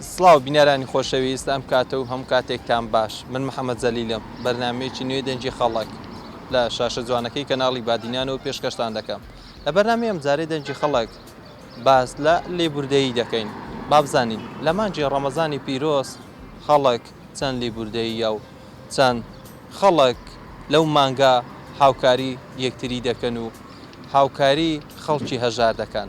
سڵاو بینەرانی خۆشەویست ئەم کاتە و هەموو کاتێکتان باش من محەمەد جەلیلم بەرنامەیەکی نوێی دەنگی خەڵک لە شاشە جوانەکەی کەناڵی بادینانەوە پێشکەشتان دەکەم لە بەرنامەی ئەمجارەی دەنگی خەڵک باس لە لێبوردەیی دەکەین بابزانین لە مانگی ڕەمەزانی پیرۆز خەڵک چەند لێبوردەییە و چەند خەڵک لەو مانگە هاوکاری یەکتری دەکەن و هاوکاری خەڵکی هەژار دەکەن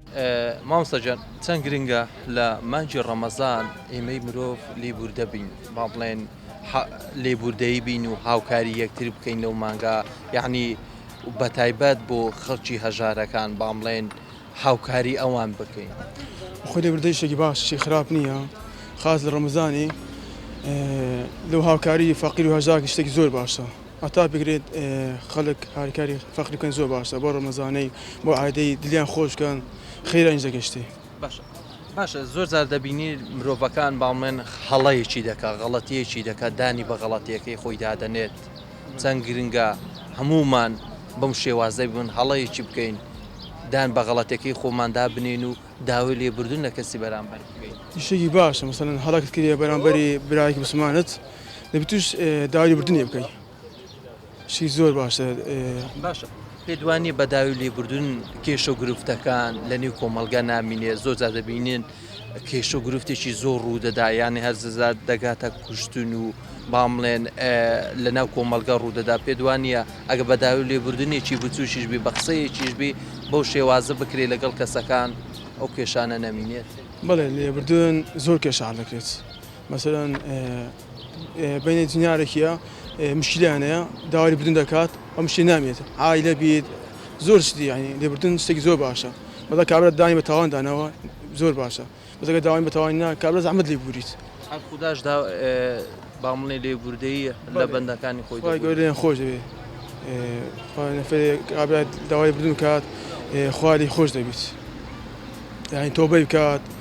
مامۆستا گیان چەند گرنگە لە مانگی ڕەمەزان ئێمەی مرۆڤ لێبووردە بین با بڵێن لێبووردەیی بین و هاوکاری یەکتر بکەین لەو مانگا یعنی بە تایبەت بۆ خەڵکی هەژارەکان با بڵێن هاوکاری ئەوان بکەین خۆ لێبووردەی شتێکی باشی خراپ نییە خاص لە ڕەمەزانی لەو هاوکاری فەقیر و هەژارێکی شتێکی زۆر باشە. هەتا بکرێت خەڵک هاریکاری فەقیر بکەن زۆر باشە بۆ ڕەمەزانەی بۆ عادەی دلیان خۆش بکەن خێرا ئینجا گەشتێ. باشە باشە زۆر جار دەبینی مرۆڤەکان باڵمێن هەڵەیەکی دەکا غەڵەتیەکی دەکا دانی بە غەڵەتیەکەی خۆی دادەنێت چەند گرنگە هەموومان بەم شێوازەی بن هەڵەیەکی بکەین دان بە غەڵەتەکەی خۆمان دابنین و داوای لێبردن لە کەسی بەرامبەر بکەین. شتێکی باشە مەسەلەن هەڵەکت کردە بەرامبەری برایەکی مسلمانت دەبی توش داوای بردنێ بکەی شی زۆر باشە باشە پێدوانی بە داوی لێبوردون کێشە و گرفتەکان لە نێو کۆمەلگا نامینێ زۆر جا دەبینین کێشە و گرفتێکی زۆر ڕوودەدا یانی هەرززار دەگاتە کوشتن و بامڵێن لە ناو کۆمەلگا ڕوودەدا پێدوانە ئەگە بە داوی لێبوردنێکی بچوشیش بی بە قسەیەکیش بی بەو شێوازە بکرێت لەگەڵ کەسەکان ئەو کێشانە نەمینێت بڵێ لێبوردن زۆر کێشان دەکرێت. مەسەلەن بەینێ جنیارەکیە مشکلیانەیە داوای بردن دەکات ئەم شتی نامێت ئایلە بیت زۆر شتی یعنی لێبردن شتێکی زۆر باشە بەڵە کابرا دانی بە تاوان دانەوە زۆر باشە بەزەکە داوای بە تاوان نا کابرا زەحمەت لێ بوریت خوداش دا بامڵێ لێ بوردەیی لە بەندەکانی خۆی گەوریان خۆش دەبێت کابرا داوای بردن کات خواری خۆش دەبیت یعنی تۆ بەی بکات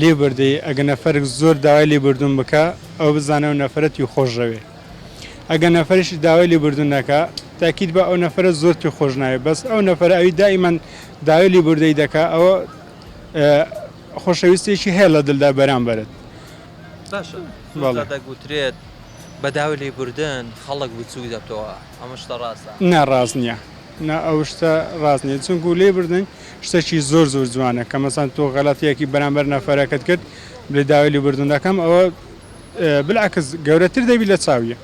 لێبوردەی، ئەگە نەفەرک زۆر داوای لێبوردن بکا ئەوە بزانە ئەو نەفەرە توی خۆش ژەوێ ئەگە نەفەریش داوای لێبوردن نەکا تاکید بە ئەو نەفەرە زۆر توی خۆش ناوێ بەس ئەو نەفەرە ئەوی دائیمەن داوای لێبوردەی دەکا ئەوە خۆشەویستێکی هەیە لە دلدا بەرامبەرت. باشە زۆر جار دەگوترێت بە داوای لێبوردن خەڵک بچوک دەبتەوە ئەمە شتە ڕاستە؟ نا ڕاست نیە نا ئەو شتە ڕاست نیە چونکو لێبوردن شتەکی زۆر زۆر جوانە کە مەسەن تۆ غەلەتیەکی بەرامبەر نەفەرەکەت کرد بلێ داوای لێبوردن دەکەم ئەوە بلعکس گەورەتر دەبی لە چاویە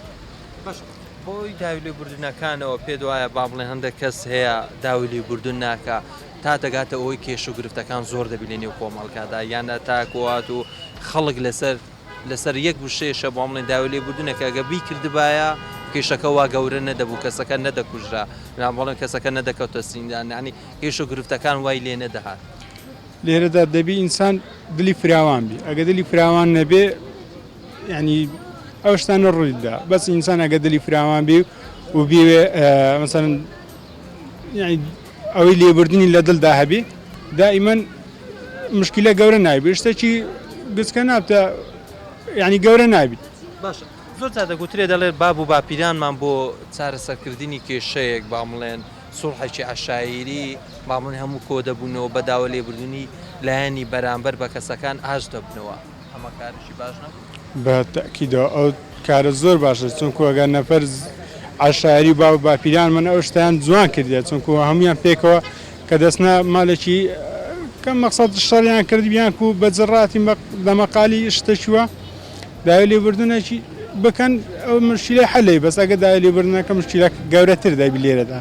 بۆی داوی لێ بردنەکانەوە پێ دوایە با بڵێ هەندێک کەس هەیە داوی لێ بردن ناکە تا دەگاتە ئەوەی کێش و گرفتەکان زۆر دەبی لە نێو کۆمەڵکادا یانە تاکوات و خەڵک لەسەر لەسەر یەک وشەیشە بۆ بڵێن داوای لێبوردنە کە گەر بیکردبایە کیشەکە وا گەورە نەدەبوو کەسەکە نەدەکوژرا یان بڵێن کەسەکە نەدەکەوتە زیندان یانی کیش و گرفتەکان وای لێ نەدەهات. لێرەدا دەبی ئینسان دلی فراوان بی ئەگە دلی فراوان نەبێ یانی ئەو شتانە ڕووی دەدا بەس ئینسان ئەگە دلی فراوان بی و بیوێ مەسەلەن ئەوەی لێبردنی لە دڵدا هەبی دائیمەن مشکلە گەورە نایبێت شتێکی گچکە نابتە ینی گەورە نابیت باشە زۆر تا دەگوترێ دەڵێت باب و باپیرانمان بۆ چارەسەرکردنی کێشەیەک بامڵێن سوڵحێکی عشاعری بامن هەموو کۆ دەبوونەوە بەداوە لێبردنی لایەنی بەرامبەر بە کەسەکان ئاش دەبنەوە ئەمە کارێکی باش نەبوو؟ بە تەئکیدەوە ئەو کارە زۆر باشە چونکو ئەگەر نەفەر عەشایری باو باپیرانمان ئەو شتیان جوان کردیە چونکو هەمویان پێکەوە کە دەستنا مالێکی کە مەقصد شەڕیان کردبیان و بە جڕاتی لە مەقالی شتەکیوە داوی لێبوردنێکی بکەن ئەو مشکلەی حەلی بەس ئەگە داوی لێبوردنەکە مشکلە گەورەتر دەبی لێرەدا.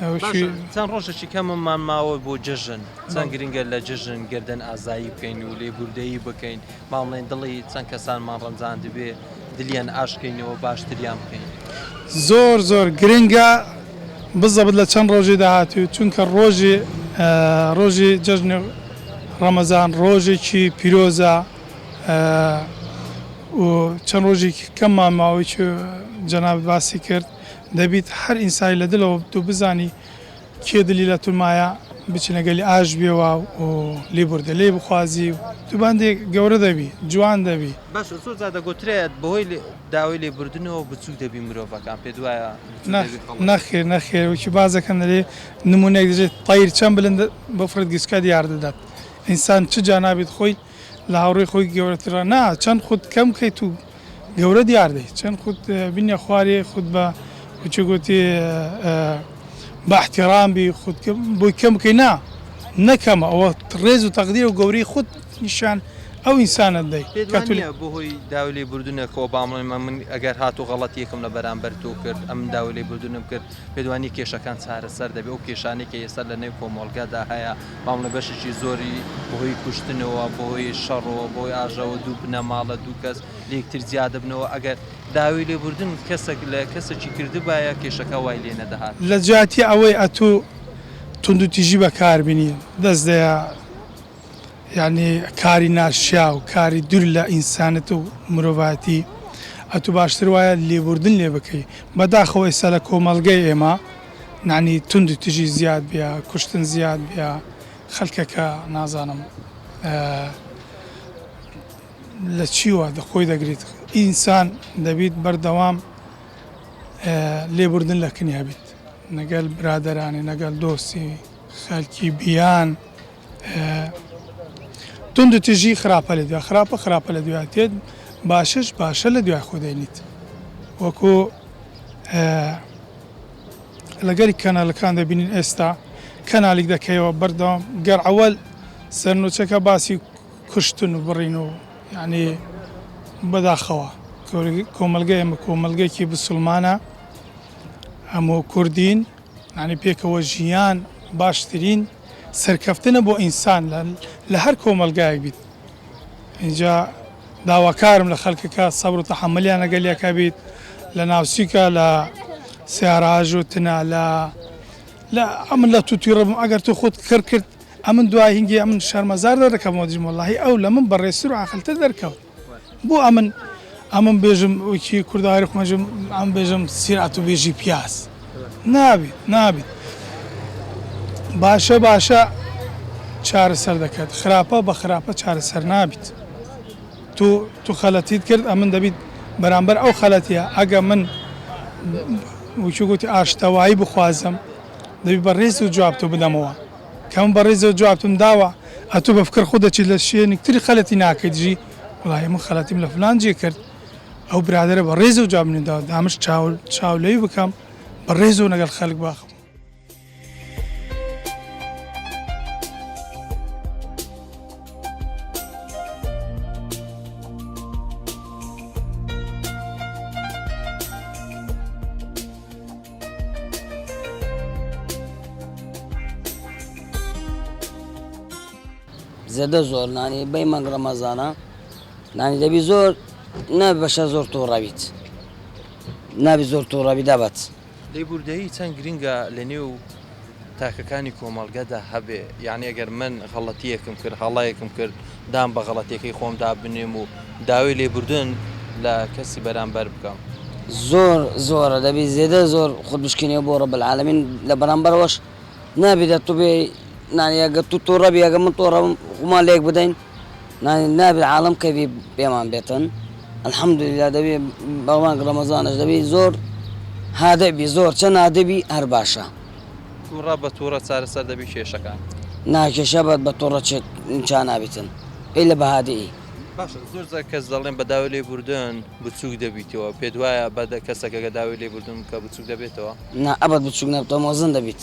باشە چەند ڕۆژێکی کەممان ماوە بۆ جەژن چەند گرنگە لە جەژن گردن ئازایی بکەین و لێبوردەیی بکەین باڵێن دڵی چەند کەسانمان ڕەنجان دەبێ دلیان ئاشکەینەوە باشتریان بکەین زۆر زۆر گرنگە بزەبت لە چەند ڕۆژی داهاتوو چونکە ڕۆژی ڕۆژی جەژن ڕەمەزان ڕۆژێکی پیرۆزە و چەند ڕۆژێکی کەممان ماوەی جەنابت باسی کرد دەبیت هەر ئینسای لە دلەوە بتو بزانی کێ دلی لە تو مایە بچی لەگەلی ئاش بێوا و لی بردە لی بخوازی و تو بەندێ گەورە دەبی جوان دەبی. بەس زۆر جار دەگۆترێ بەهۆی داوەی لی بردنەوە بچوک دەبی مرۆڤەکان پێت وایە بچوک دەبی خەڵک. نەخیر نەخیر وەکی باس دەکەن دەلی نمونەیک دەجی تەیر چەن بلند بفرد گسکە دیار دەدات ئینسان چ جا نابیت خۆی لە هاوڕێی خۆی گەورەترە نا چەند خود کەم کەیت و گەورە دیار دەیت چەند خود بینە خوارێ خود بە وچە گوتی بە احترام بی خود بۆی کەم بکەی نا نەکەمە ئەوە ڕێز و تەقدیر و گەورەی خود نیشان ئەو ئینسانت دەی بۆ هۆی داولی بردونەکەەوە بامڵێمە من ئەگەر هات و غەڵەت یەکم لە بەرامبەر تۆ کرد ئەم داولی بردونم کرد پێدوانی کێشەکان چارەسەر دەبێت ئەو کێشانێکی ئێستا لە نێو کۆمەڵگەدا هەیە ماملێ بەشێکی زۆری بەهۆی کوشتنەوە بەهۆی شەڕەوە بۆی ئاژەوە دوو بنەماڵە دوو کەس لەکتر جیا دەبنەوە ئەگەر داوی لێبوردن کەسێک لە کەسێکی کردبایە کێشەکە وای لێ نەدەهات. لە جیاتی ئەوەی ئەتو توندوتیژی بەکاربینی دەست دەیا یانی کاری ناشیاو کاری دور لە ئینسانەت و مرۆڤایەتی ئەتو باشتر وایە لێبوردن لێ بکەی بەداخەوە ئێستا لە کۆمەڵگەی ئێمە نانی توندی تژی زیاد بیا کوشتن زیاد بیا خەلکەکە نازانم لە چیوە دەخۆی دەگریت ئینسان دەبیت بەردەوام لێبوردن لە کنیا بیت نەگەل برادرانی نەگەل دۆسی خەلکی بیان تونند تژی خراپە لە دوای خراپە خراپە لە دواتێت باشش باشە لە دوای خۆدەێنیت وەکو لەگەری کەنالەکان دەبینین ئێستا کەنالیک دەکەیەوە بەردەوام گەر عەوەل سەرنوچەکە باسی کوشتن و بڕین و یعنی بەداخەوە کۆمەلگە ئێمە کۆمەلگەکی بسلمانە هەموو کوردین ینی پێکەوە ژیان باشترین سەرکەفتنە بۆ ئینسان لە هەر کۆمەلگایەک بیت اینجا داواکارم لە خەلکەکە سەبر و تەحەمولیان لەگەل یەکە بیت لە ناوسیکە لە سیارە ئەژوتنە لە لە ئەمن لە توتی ڕبم ئەگەر تو خود کڕ کرد ئەمن دوای هنگی ئەمن شەرمەزار دەردەکەمەوە دژم وەڵاهی ئەو لە من بەڕێزتر و عاقلتر دەرکەوت بۆ ئەمن ئەمن بێژم وەکی کوردەواری خۆمەژم ئەم بێژم سیرەت و بێژی پیاز. نابیت نابیت باشە باشە چارەسەر دەکات خراپە بە خراپە چارەسەر نابیت تو تو خەلەتیت کرد ئەمن دەبیت بەرامبەر ئەو خەلەتیە ئەگە من وچو گوتی ئاشتەوایی بخوازم دەبی بە ریز و جواب تو بدەمەوە کەم بە ریز و جوابتم داوە ئەتو بە فکر خو دەچیت لە شوێنیک تری خەلەتی ناکەیت جی وڵای من خەلەتیم لە فلان جی کرد ئەو برادەرە بە ڕێزەو جواب منی داوە دامش چاو چاو لەوی بکەم بە ڕێزەوە لەگەڵ خەلک باخم زێدە زۆر نانی بەی مەنگ ڕەمەزانە نانی دەبی زۆر نابی بەشە زۆر توڕەبیت نابی زۆر توڕەبی دەبەت لێبوردەیی چەند گرنگە لە نێو تاکەکانی کۆمەڵگەدا هەبێ یعنی ئەگەر من غەڵەتیەکم کرد هەڵەیەکم کرد دام بە غەڵەتەکەی خۆم دابنێم و داوای لێبوردن لە کەسی بەرامبەر بکەم زۆر زۆرە دەبی زێدە زۆر خود بشکینەوە بۆ ڕە بەعاالمین لە بەرامبەرەوەش نابی دە تو بێ نانیگە تو تۆڕەبیگە من تۆڕم خومان لێک بدەین نابێ عالەم کەیفی پێمان بێتن الحمدللە دەبێ بەمانگ رەمەزانش دەبێ زۆر هادئ بی زۆر چەن هادئ بی هەر باشە. توڕە بە توڕە چارەسەر دەبی کێشەکان. نا کێشە بە بە توڕە چێک چا نابیتن ئیلە بە هادئ ی. باشە زۆر جار کەس دەڵێن بە داوی لێ بوردن بچوک دەبیتەوە پێت وایە بە کەسەکەگە داوی لێ بوردن بکە بچوک دەبێتەوە؟ نا ئەبەد بچوک نابتەوە مۆزن دەبیت.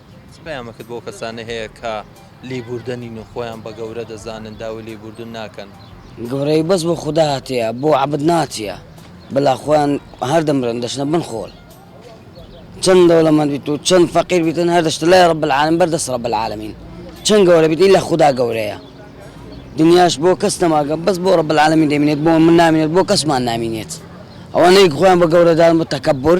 چ پەیامەکت بۆ ئەو کەسانە هەیە کە لیبوردە نین و خۆیان بە گەورە دەزانن داوی لیبوردن ناکەن؟ گەورەی بەس بۆ خودا هاتیە بۆ عەبد ناتیە بلا خۆیان هەر دەمرن دەچنە بن خۆل چەند دەوڵەمەند بیت و چەند فەقیر بیتن هەر دەچتە لای رب العالمین بەر دەست رب العالمین چەند گەورە بیت ئیلا خودا گەورەیە دنیاش بۆ کەس نەماگە بەس بۆ رب العالمین دەمینێت بۆ من نامینێت بۆ کەسمان نامینێت ئەوانەی خۆیان بە گەورە دان بە تەکەبور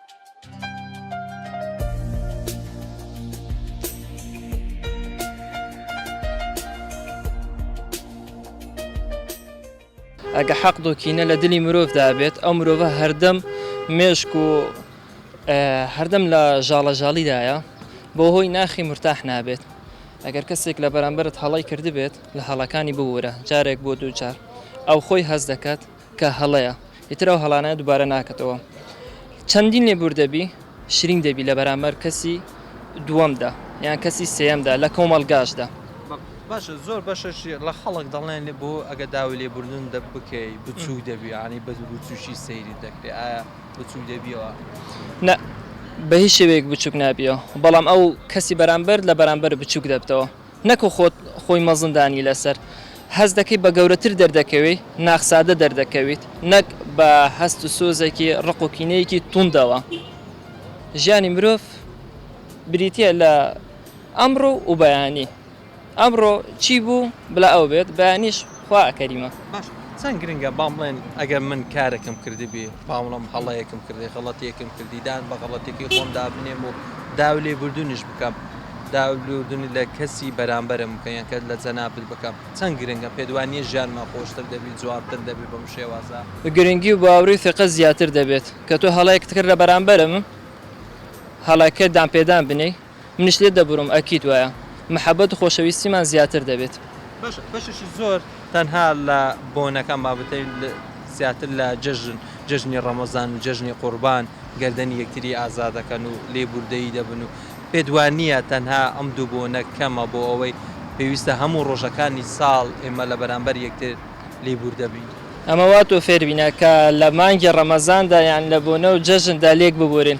ئەگە حەق دۆکینە لە دلی مرۆڤدا بێت ئەو مرۆڤە هەردەم مێشک و هەردەم لە ژاڵەژاڵیدایە بۆ هۆی ناخی مرتاح نابێت ئەگەر کەسێک لە بەرامبرت هەڵی کردبێت لە هەڵەکانی ببوورە جارێک بۆ دووجار ئەو خۆی هەز دەکات کە هەڵەیە ئیتر ئەو هەڵانە دوبارە ناکەتەوە چەندین لێبور دەبی شرین دەبی لە بەرامبەر کەسی دووەمدا یان کەسی سێیەمدا لە کۆمەڵگاشدا. باشە زۆر بەشەش لە خەڵک دەڵێن لێ بۆ ئەگە داوی لێ بوردن دە بکەی بچوک دەبی یانی بە بچوکی سەیری دەکرێ ئایا بچوک دەبیەوە؟ نە بە هیچ شێوەیەک بچوک نابیەوە بەڵام ئەو کەسی بەرامبەر لە بەرامبەر بچوک دەبتەوە نەکو خۆت خۆی مەزن دانی لەسەر. هەست دەکەی بە گەورەتر دەردەکەوی، ناخسادە دەردەکەویت، نەک بە هەست و سۆزێکی ڕق و کینەیەکی توندەوە. ژیانی مرۆڤ بریتیە لە ئەمڕۆ و بەیانی. ئەمڕۆ چی بوو بلا ئەو بێت، بەیانیش خوا کەریمە. باشە چەند گرنگە با بڵێن ئەگەر من کارێکم کردبی با بڵێم هەڵەیەکم کردی غەڵەتیەکم کردی دان بە غەڵەتێکی خۆم دابنێم و داوی لێ بوردونیش بکەم داوی لێ بوردونی لە کەسی بەرامبەرم بکەم یان کە لە جەنابت بکەم چەند گرنگە پێت وا نییە ژیانمان خۆشتر دەبی جوانتر دەبی بەم شێوازە؟ گرنگی و باوڕی و ثقەت زیاتر دەبێت کە تۆ هەڵەیەکت کرد لە بەرامبەرم هەڵەکە دان پێدان بنێی. منیش لێت دەبورم ئەکید وایە محەبەت و خۆشەویستیمان زیاتر دەبێت. باشە بەشێکی زۆر تەنها لە بۆنەکان بابەتەی زیاتر لە جەژن جەژنی ڕەمەزان و جەژنی قوربان گەردەنی یەکتری ئازا دەکەن و لێبوردەیی دەبن و پێت وانییە تەنها ئەم دوو بۆنە کەمە بۆ ئەوەی پێویستە هەموو ڕۆژەکانی ساڵ ئێمە لە بەرامبەر یەکتر لێبوردە بین؟ ئەمە وا تۆ فێربینە کە لە مانگی ڕەمەزاندا یان لە بۆنە و جەژندا لێک ببورین.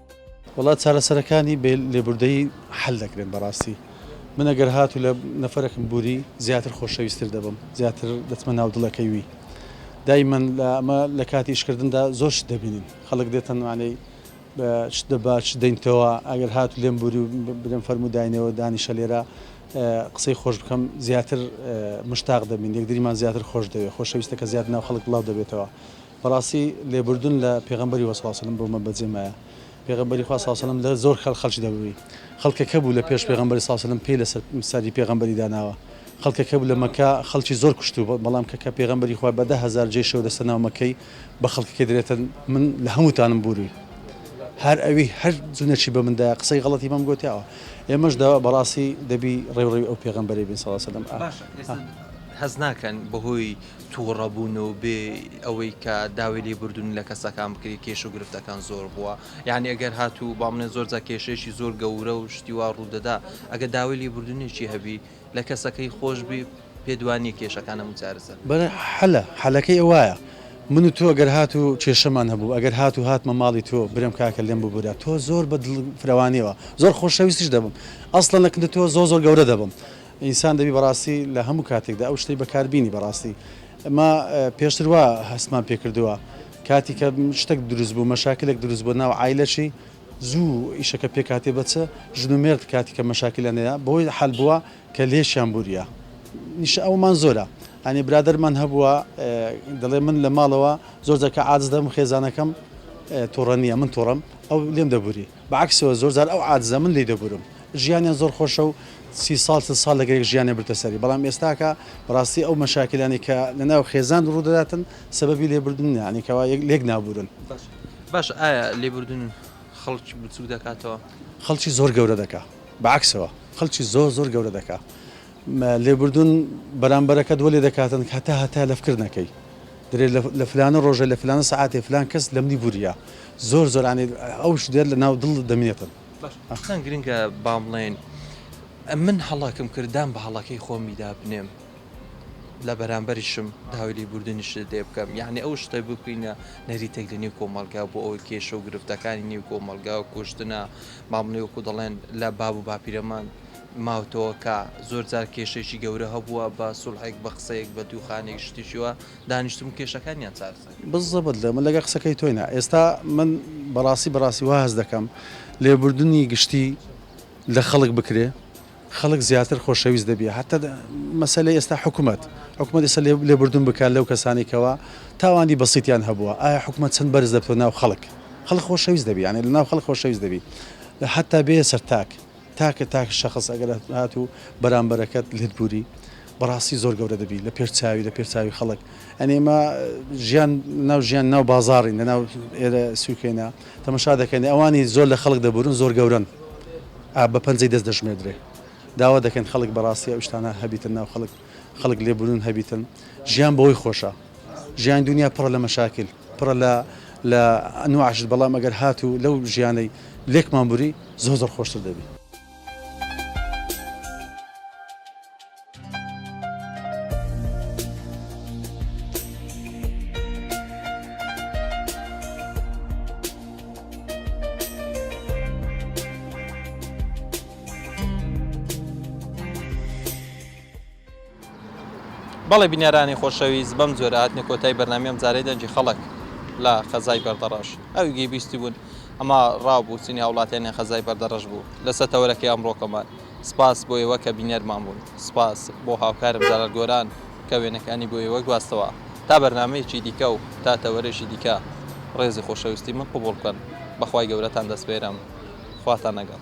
وەڵا چارەسەرەکانی بێ لێبوردەیی حەل دەکرێن بەڕاستی من ئەگەر هاتو لە نەفەرەکم بوری زیاتر خۆشەویستر دەبم زیاتر دەچمە ناو دڵەکەی وی دایمەن لە ئەمە لە کاتی ئیشکردندا زۆر شت دەبینین خەڵک دێتەن وانەی بە شت دەبا چ دەینتەوە ئەگەر هاتو لێم بوری و برێم فەرمو داینەوە دانیشە لێرە قسەی خۆش بکەم زیاتر مشتاق دەبین یەکدریمان زیاتر خۆش دەوێ خۆشەویستەکە زیاد ناو خەڵک بڵاو دەبێتەوە بەڕاستی لێبوردن لە پێغەمبەری وە سڵاوسلم بۆ مە بەجێ مایە پێغەمبەری خوا سڵاوسلم لە زۆر خەل خەلکی دەبوی خەڵکە کە بوو لە پێش پێغەمبەری ساسلم پێی لەسەر سەری پێغەمبەری داناوە خەڵکە کە بوو لە مەکە خەڵکی زۆر کوشتو بەڵام کە کە پێغەمبەری خوا بە دە هەزار جێشەوە دەستە ناو مەکەی بە خەڵکەکە درێتن من لە هەمووتانم بوری هەر ئەوی هەر جونەچی بە مندا قسەی غڵەتی بەم گوتیاوە ئێمەش دا بەڕاستی دەبی ڕێوڕی ئەو پێغەمبەری بین سەڵسەلم هەز ناکەن بەهۆی توڕە بوون و بێ ئەوەی کە داوی لێ بوردوونی لە کەسەکان بکرێ کێشە و گرفتەکان زۆر بووە یانی ئەگەر هاتوو با بڵێن زۆر جار کێشەیەکی زۆر گەورە و شتی وا ڕوو دەدا ئەگەر داوای لێ بوردوونێکی هەبی لە کەسەکەی خۆش بی پێت وا نییە کێشەکان هەموو چارەسەر بکا. بەڵێ حەلە حەلەکەی وایە من و تۆ ئەگەر هاتوو کێشەمان هەبوو ئەگەر هاتوو هاتمە ماڵی تۆ برێم کاکە لێم ببورە تۆ زۆر بە دڵ فرەوانیەوە زۆر خۆشەویستیش دەبم ئەسڵەن لە کن تۆ زۆر زۆر گەورە دەبم ئینسان دەبی بەڕاستی لە هەموو کاتێکدا ئەو شتەی بەکاربینی بەڕاستی ئەمە پێشتر وا هەستمان پێکردووە کاتی کە شتێک دروست بوو مەشاکلێک دروست بۆ ناو ئایلەشی زوو ئیشەکە پێکاتێ بەچ ژن و مێرد کاتی کە مەشاکلە نەیە بۆی حل بووە کە لێشیان بوریە نیشە ئەومان زۆرە ئەنی برادەرمان هەبووە دەڵێ من لە ماڵەوە زۆر جەکە ئاز دەم خێزانەکەم تۆڕە نییە من تۆڕم ئەو لێم دەبوری بە عەکسەوە زۆر جار ئەو عادزە من لێی دەبورم ژیانیان زۆر خۆشە و سی ساڵ چل ساڵ لەگەر یەک ژیانیان بردتە سەری بەڵام ئێستاکە بەڕاستی ئەو مەشاکیلانەی کە لە ناو خێزان ڕوو دەداتن سەبەبی لێبردن یانی کەوا لێک نابورن. باشە ئایا لێبوردن خەڵکی بچوک دەکاتەوە؟ خەڵکی زۆر گەورە دەکا بە عەکسەوە خەڵکی زۆر زۆر گەورە دەکا. لێبوردن بەرامبەرەکەت وەلێ دەکاتن هەتا هەتایە لەفکر نەکەی درێ لە فلانە ڕۆژێ لە فلانە سەعاتێ فلان کەس لە منی بوریە زۆر زۆر ئانی ئەو شتە لە ناو دڵ دەمێنێتن. چەند گرنگە با بڵێین من هەڵەکم کرد دان بە هەڵەکەی خۆمیدا بنێم لە بەرامبەریشم داوای لێبوردنیشت لێ بکەم یعنی ئەو شتە ببینە نەریتێک لە نێو کۆمەڵگا بۆ ئەوەی کێشە و گرفتەکانی نێو کۆمەڵگا و کوشتنە ماملێ وەکو دەڵێن لە باب و باپیرەمان ماوتەوە کا زۆر جار کێشەیەکی گەورە هەبووە بە سوڵحێک بە قسەیەک بە دووخانێک شتێکی وا دانیشتم و کێشەکانیان چارەسەر کردووە. بزەبت لە من لەگەر قسەکەی تۆی نا ئێستا من بەڕاستی بەڕاستی وا هەست دەکەم لێبوردنی گشتی لە خەڵک بکرێ خەڵک زیاتر خۆشەویست دەبیە هەتا مەسەلەی ئێستا حکومەت حکومەت ئێستا لێبوردن بکات لەو کەسانی کەوا تاوانی بەسیتیان هەبووە ئایا حکومەت چەند بەرز دەبتە ناو خەڵک خەڵک خۆشەویست دەبی یانی لە ناو خەڵک خۆشەویست دەبی هەتا بێ سەر تاک تاکە تاک شەخس ئەگەر هات و بەرامبەرەکەت لێت بوری بەڕاستی زۆر گەورە دەبی لە پێش چاوی لە پێش چاوی خەڵک ئەنی ئمە ژیان ناو ژیان ناو بازارین لە ناو ئێرە سوکەینە تەمەشا دەکەن ئەوانی زۆر لە خەڵک دەبورن زۆر گەورن بە پەنجەی دەست دەژمێدرێ داوا دەکەن خەڵک بەڕاستی ئەو شتانە هەبیتە ناو خەڵک خەڵک لێ بوون هەبیتن ژیان بەوەی خۆشە ژیان دنیا پڕە لە مەشاکل پڕە لە لە ئەنوعشت بەڵام ئەگەر هات و لەو ژیانەی لێکمان بوری زۆ زۆر خۆشتر دەبی بەڵێ بینەرانی خۆشەویست بەم جۆرە هاتنە کۆتای بەرنامی ئەم جارەی دەنگی خەڵک لە خەزای بەردەڕەش ئەوی گەی بیستی بوون ئەما ڕاو بوو چینی هاوڵاتیانی خەزای بەردەڕەش بوو لە سەتەوەرەکەی ئەمڕۆکەمان سپاس بۆ ئێوە کە بینەرمان بوون سپاس بۆ هاوکارم جەلال گۆران کە وێنەکانی بۆ ئێوە گواستەوە تا بەرنامەیەکی دیکە و تا تەوەرێکی دیکە ڕێزی خۆشەویستی من قبوڵ بکەن بەخوای گەورەتان دەسپێرم خواتان نەگەڵ.